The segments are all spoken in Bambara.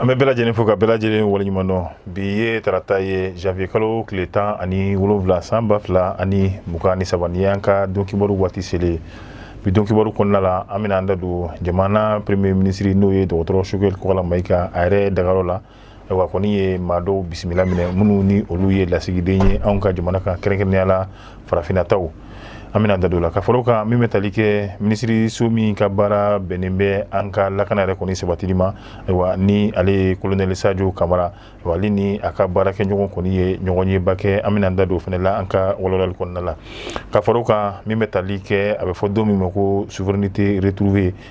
an bɛ bɛɛ lajɛlen fo ka bɛɛ lajɛlen waleɲuman dɔn bi ye tarata ye janvier kalo tile tan ani wolonwula san ba fila ani mugan ni saba ni y'an ka don kibaru waati selen bi don kibaru kɔnɔna la an bɛna an da don jamana premier ministre n'o ye dɔgɔtɔrɔ Choguel Kokalla Maïga a yɛrɛ dagayɔrɔ la Ayiwa kɔni ye maa dɔw bisimila minɛ minnu ni olu ye lasigiden ye anw ka jamana kan kɛrɛnkɛrɛnnenya la farafinnataw an bɛna da don o la ka fara o kan min bɛ tali kɛ minisiriso min ka baara bɛnnen bɛ an ka lakana yɛrɛ kɔni sabatili ma ayiwa ni ale ye colonel Sadio Camara ale ni a ka baarakɛɲɔgɔn kɔni ye ɲɔgɔnyeba kɛ an bɛna da don o fana la an ka walawalali kɔnɔna la ka fara o kan min bɛ tali kɛ a bɛ fɔ don min ma ko souveraineté retrouvée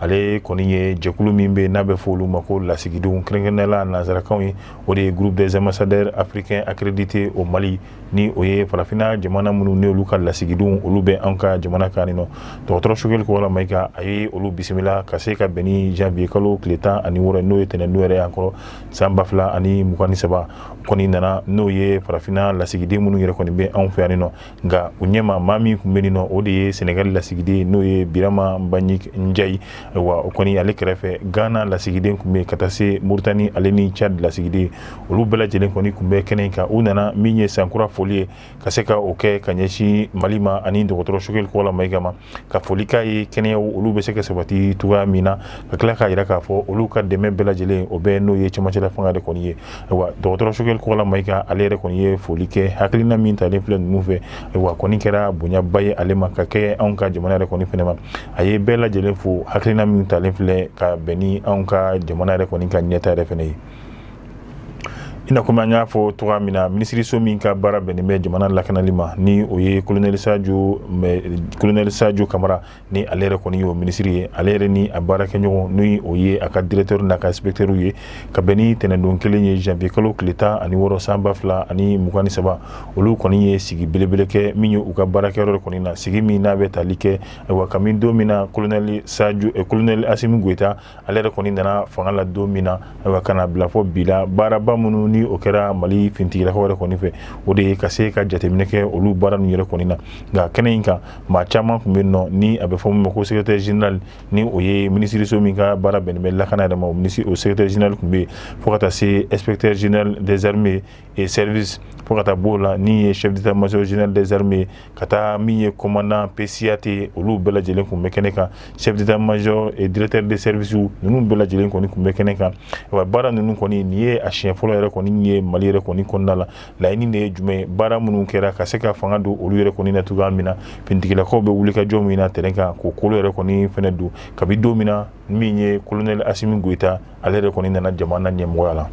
ale kɔni ye jɛkulu min bɛ n'a bɛ fɔ olu ma ko lasigidenw kɛrɛnkɛrɛnnenya la nansarakan ye o de ye groupe des ambassadeurs africains accrédités au Mali ni o ye farafinna jamana minnu ni olu ka lasigidenw olu bɛ an ka jamana kan nin nɔ dɔgɔtɔrɔ Choguel Kokalla Maïga a ye olu bisimila ka se ka bɛn ni janvier kalo tile tan ani wɔɔrɔ n'o ye tɛnɛndon yɛrɛ y'an kɔrɔ san ba fila ani mugan ni saba kɔni nana n'o ye farafinna lasigiden minnu yɛrɛ kɔni bɛ anw fɛ yan nɔ nka u ɲɛma maa min tun bɛ nin nɔ o de ye Senegal lasigiden n'o ye Birama Mbagnick Ndiaye wa o kɔni ale kɛrɛfɛ Ghana lasigiden tun bɛ ka taa se Mauritanie ale ni Tchad lasigiden olu bɛɛ lajɛlen kɔni tun bɛ kɛnɛ in kan u nana min ye san kura foli ye ka se ka o kɛ ka ɲɛsin Mali ma ani dɔgɔtɔrɔ Choguel Kokalla Maïga ma ka foli ka ye kɛnɛya olu bɛ se ka sabati cogoya min na ka tila k'a jira k'a fɔ olu ka dɛmɛ bɛɛ lajɛlen o bɛ n'o ye cɛmancɛla fanga de kɔni ye wa dɔgɔtɔrɔ Choguel Kokalla Maïga ale yɛrɛ kɔni ye foli kɛ hakilina min talen filɛ ninnu fɛ wa kɔni kɛra bonyaba ye ale ma ka kɛ anw ka jamana yɛrɛ kɔni fɛnɛ ma a ye bɛɛ lajɛlen fo hakilina min talen filɛ ka bɛn ni anw ka jamana yɛrɛ kɔni ka ɲɛtaa yɛrɛ fɛnɛ ye I na kɔmi an y'a fɔ cogoya min na minisiriso min ka baara bɛnnen bɛ jamana lakanali ma ni o ye colonel Sadio Camara ni ale yɛrɛ kɔni ye o minisiri ye ale yɛrɛ ni a baarakɛɲɔgɔn ni o ye a ka directeur n'a ka inspecteur ye ka bɛn ni tɛnɛndon kelen ye janvier kalo tile tan ani wɔɔrɔ san ba fila ani mugan ni saba olu kɔni ye sigi belebele kɛ min ye u ka baarakɛyɔrɔ kɔni na sigi min n'a bɛ tali kɛ wa kabini don min na colonel Assimi Goïta ale yɛrɛ kɔni nana fanga la don min na ayiwa ka na bila fo bi la baaraba minnu ni o kɛra Mali fintigilakaw yɛrɛ kɔni fɛ o de ye ka se ka jateminɛ kɛ olu baara ninnu yɛrɛ kɔni na nka kɛnɛ in kan maa caman tun bɛ nɔ ni a bɛ fɔ min ma ko secrétaire général ni o ye minisiriso min ka baara bɛnnen bɛ lakana yɛrɛ ma o secrétaire général tun bɛ yen fo ka taa se inspecteur général des armées et service fo ka taa b'o la ni ye chef d'état major général des armées ka taa min ye commandant PCAT olu bɛɛ lajɛlen kun bɛ kɛnɛ kan chef d'état major et directeur des services ninnu bɛɛ lajɛlen kɔni kun bɛ kɛnɛ kan wa baara ninnu kɔni nin ye a siɲɛ fɔlɔ yɛrɛ kɔni ye Mali yɛrɛ kɔni kɔnɔna la laɲini de ye jumɛn ye baara minnu kɛra ka se ka fanga don olu yɛrɛ kɔni na cogoya min na finitigilakaw bɛ wuli ka jɔ min na terrain kan k'o kolo yɛrɛ kɔni fɛnɛ don kabi don min na min ye colonel Asimi Goyita ale de kɔni nana jamana ɲɛmɔgɔya la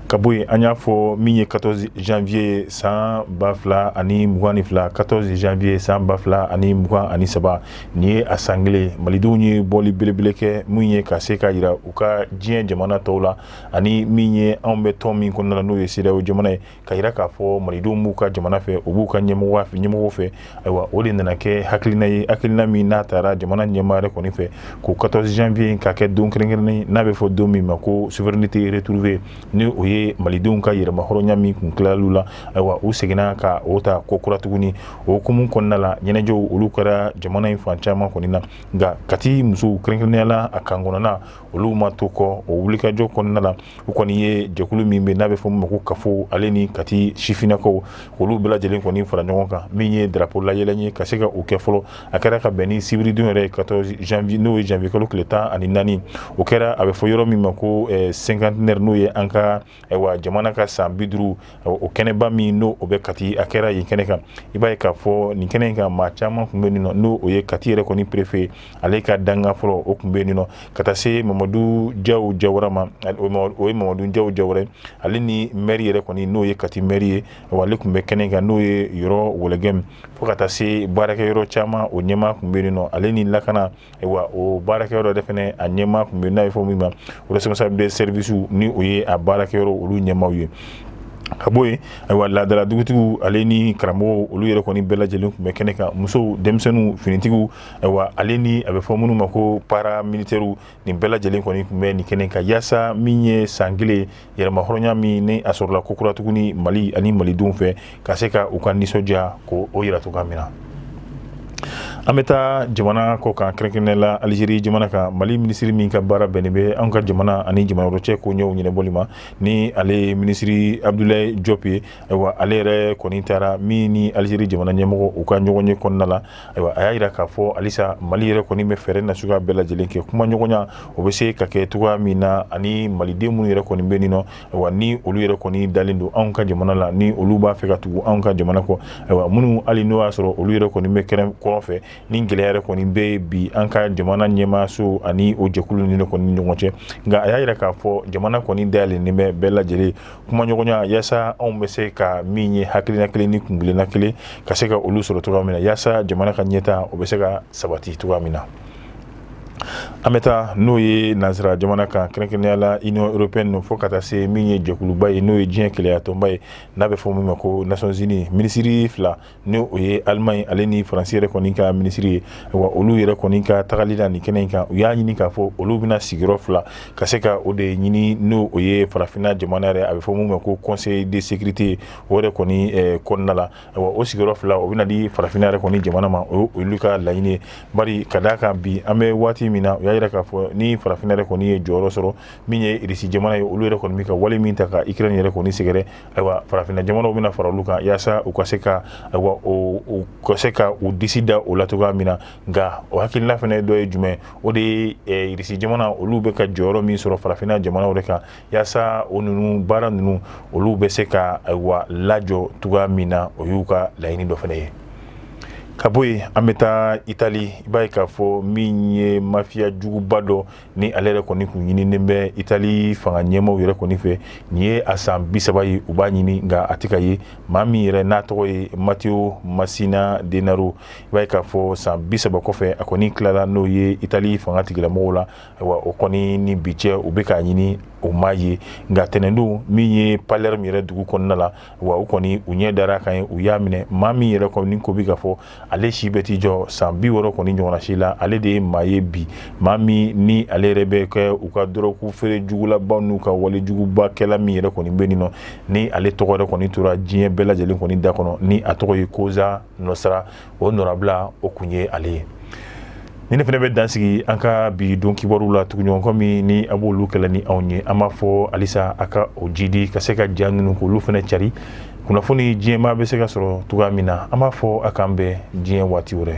ka bɔ yen an y'a fɔ min ye 14 janvier san ba fila ani mugan ni fila 14 janvier san ba fila ani mugan ani saba nin ye a san kelen malidenw ye bɔli belebele kɛ min ye ka se k'a yira u ka diɲɛ jamana tɔw la ani min ye anw bɛ tɔn min kɔnɔna la n'o ye CEDEAO jamana ye k'a yira k'a fɔ malidenw b'u ka jamana fɛ u b'u ka ɲɛmɔgɔ fɛ ayiwa o de nana kɛ hakilina ye hakilina min n'a tara jamana ɲɛmaa yɛrɛ kɔni fɛ ko 14 janvier in ka kɛ don kɛrɛnkɛrɛnnen ye n'a bɛ fɔ don min ma ko souveraineté retrouvée ni o ye malidenw ka yɛrɛmahɔrɔnya min kun tilal'u la ayiwa u seginna ka o ta ko kura tuguni o hukumu kɔnɔna la ɲɛnajɛw olu kɛra jamana in fan caman kɔni na nka kati musow kɛrɛnkɛrɛnnenya la a kan kɔnɔna olu ma to kɔ o wulikajɔ kɔnɔna la u kɔni ye jɛkulu min bɛ n'a bɛ fɔ min ma ko CAFO ale ni kati sifinnakaw olu bɛɛ lajɛlen kɔni fara ɲɔgɔn kan min ye darapo layɛlɛn ye ka se ka o kɛ fɔlɔ a kɛra ka bɛn ni sibiridon yɛrɛ 14 janvier n'o ye janvier kalo tile tan ani naani o kɛra a bɛ fɔ yɔrɔ min ma ko cinquantenaire n'o ye an ka Ayiwa jamana ka san bi duuru o kɛnɛba min n'o o bɛ kati a kɛra yen kɛnɛ kan i b'a ye k'a fɔ nin kɛnɛ in kan maa caman kun bɛ nin nɔ n'o o ye kati yɛrɛ kɔni perefe ale ka dankan fɔlɔ o kun bɛ nin nɔ ka taa se mamadu jaw jawara ma o ye mamadu jaw jawara ale ni mɛri yɛrɛ kɔni n'o ye kati mɛri ye wa ale kun bɛ kɛnɛ kan n'o ye Yoro Wologɛm fo ka taa se baarakɛyɔrɔ caman o ɲɛmaa kun bɛ nin nɔ ale ni lakana Wa o baarakɛyɔrɔ de fɛnɛ a ɲɛmaa kun bɛ n'a bɛ fɔ min ma responsable de service ni o ye a baarakɛyɔrɔ olu ɲɛmaaw ye ka bɔ yen ayiwa laadala dugutigi ale ni karamɔgɔw olu yɛrɛ kɔni bɛɛ lajɛlen kun bɛ kɛnɛ kan musow denmisɛnninw finitigiw ayiwa ale ni a bɛ fɔ minnu ma ko paramilitaires nin bɛɛ lajɛlen kɔni kun bɛ nin kɛnɛ kan yaasa min ye san kelen yɛrɛmahɔrɔnya min ni a sɔrɔla ko kura tuguni mali ani malidenw fɛ ka se ka u ka nisɔndiya ko o yira cogoya min na an bɛ taa jamana kɔkan kɛrɛnkɛrɛnnenya la alizeri jamana kan mali minisiri min ka baara bɛnnen bɛ an ka jamana ani jamana wɛrɛ cɛ koɲɛw ɲɛnabɔli ma ni ale ye minisiri abdulayi jɔp ye ayiwa ale yɛrɛ kɔni taara min ni alizeri jamana ɲɛmɔgɔ u ka ɲɔgɔnye kɔnɔna la Ayiwa a y'a yira k'a fɔ halisa mali yɛrɛ kɔni bɛ fɛɛrɛ na suguya bɛɛ lajɛlen kɛ kumaɲɔgɔnya o bɛ se ka kɛ cogoya min na ani maliden minnu yɛrɛ kɔni bɛ nin nɔ ayiwa ni olu yɛrɛ kɔni dalen don anw ka jamana la ni olu b'a fɛ ka tugu anw ka jamana kɔ ayiwa minnu hali n'o y'a sɔrɔ olu yɛrɛ kɔni bɛ kɛrɛn kɔrɔn fɛ ni gɛlɛya yɛrɛ kɔni bɛ bi an ka jamana ɲɛmaaso ani o jɛkulu ni kɔni ɲɔgɔn cɛ nka a y'a yira k'a fɔ jamana kɔni dayɛlɛnnen bɛ bɛɛ lajɛlen kumaɲɔgɔnya yaasa anw bɛ se ka min ye hakilina kelen ni kuntilenna kelen ka se ka olu sɔrɔ cogoya min na yaasa jamana ka ɲɛtaa o bɛ se ka sabati cogoya min na an bɛ taa n'o ye nansara jamana kan kɛrɛnkɛrɛnnenya la union européenne fo ka taa se min ye jɛkuluba ye n'o ye diɲɛ kelenyatɔnba ye n'a bɛ fɔ min ma ko nations unies minisiri fila ni o ye allemagne ale ni faransi yɛrɛ kɔni ka minisiri ye wa olu yɛrɛ kɔni ka tagali la nin kɛnɛ in kan u y'a ɲini k'a fɔ olu bɛna sigiyɔrɔ fila ka se ka o de ɲini n'o o ye farafinna jamana yɛrɛ a bɛ fɔ min ma ko conseil de sécurité o yɛrɛ kɔni eh, kɔnɔna la wa o sigiyɔrɔ fila o bɛna di farafinna yɛrɛ kɔni jamana ma o olu ka laɲini ye bari ka d'a kan bi an bɛ waati min na u y'a yira k'a fɔ ni farafinna yɛrɛ kɔni ye jɔyɔrɔ sɔrɔ min ye irisi jamana ye olu yɛrɛ kɔni bɛ ka wale min ta ka ikirɛni yɛrɛ kɔni sɛgɛrɛ ayiwa farafinna jamanaw bɛna fara olu kan yaasa u ka se ka ayiwa u ka se ka u disi da o la cogoya min na nka o hakilina fana dɔ ye jumɛn o de ye eh, irisi jamana olu bɛ ka jɔyɔrɔ min sɔrɔ farafinna jamanaw de kan yaasa o ninnu baara ninnu olu bɛ se ka ayiwa lajɔ cogoya min na o y'u ka laɲini dɔ fana ye ka bɔ yen an bɛ taa itali i b'a ye k'a fɔ min ye mafiya juguba dɔ ni ale yɛrɛ kɔni kun ɲininen bɛ itali fanga ɲɛmaaw yɛrɛ kɔni fɛ nin ye a san bi saba ye u b'a ɲini nka a tɛ ka ye maa min yɛrɛ n'a tɔgɔ ye matteo messina denaro i b'a ye k'a fɔ san bi saba kɔfɛ a kɔni tilala n'o ye itali fanga tigilamɔgɔw la ayiwa o kɔni ni bi cɛ u bɛ k'a ɲini o ma ye nka tɛnɛndon min ye palerme yɛrɛ dugu kɔnɔna la wa u kɔni u ɲɛ dar'a kan yen u y'a minɛ maa min yɛrɛ kɔni ko bi k'a fɔ ale si bɛ t'i jɔ san bi wɔɔrɔ kɔni ɲɔgɔnna si la ale de ye maa ye bi maa min ni ale yɛrɛ bɛ kɛ u ka dɔrɔgu feere jugulabaw n'u ka wale jugubakɛla min yɛrɛ kɔni bɛ nin nɔ ni ale tɔgɔ yɛrɛ kɔni tora diɲɛ bɛɛ lajɛlen kɔni da kɔnɔ ni a tɔgɔ ye cosa nostra o nɔrabila o kun ye ale ye ni ne fana bɛ dansigi an ka bi don kibaruw la tuguɲɔgɔnkɔ min ni a b'olu kɛ la ni anw ye an b'a fɔ halisa a ka o jidi ka se ka ja ninnu k'olu fana cari kunnafoni diɲɛmaa bɛ se ka sɔrɔ cogoya min na an b'a fɔ a k'an bɛn diɲɛ waati wɛrɛ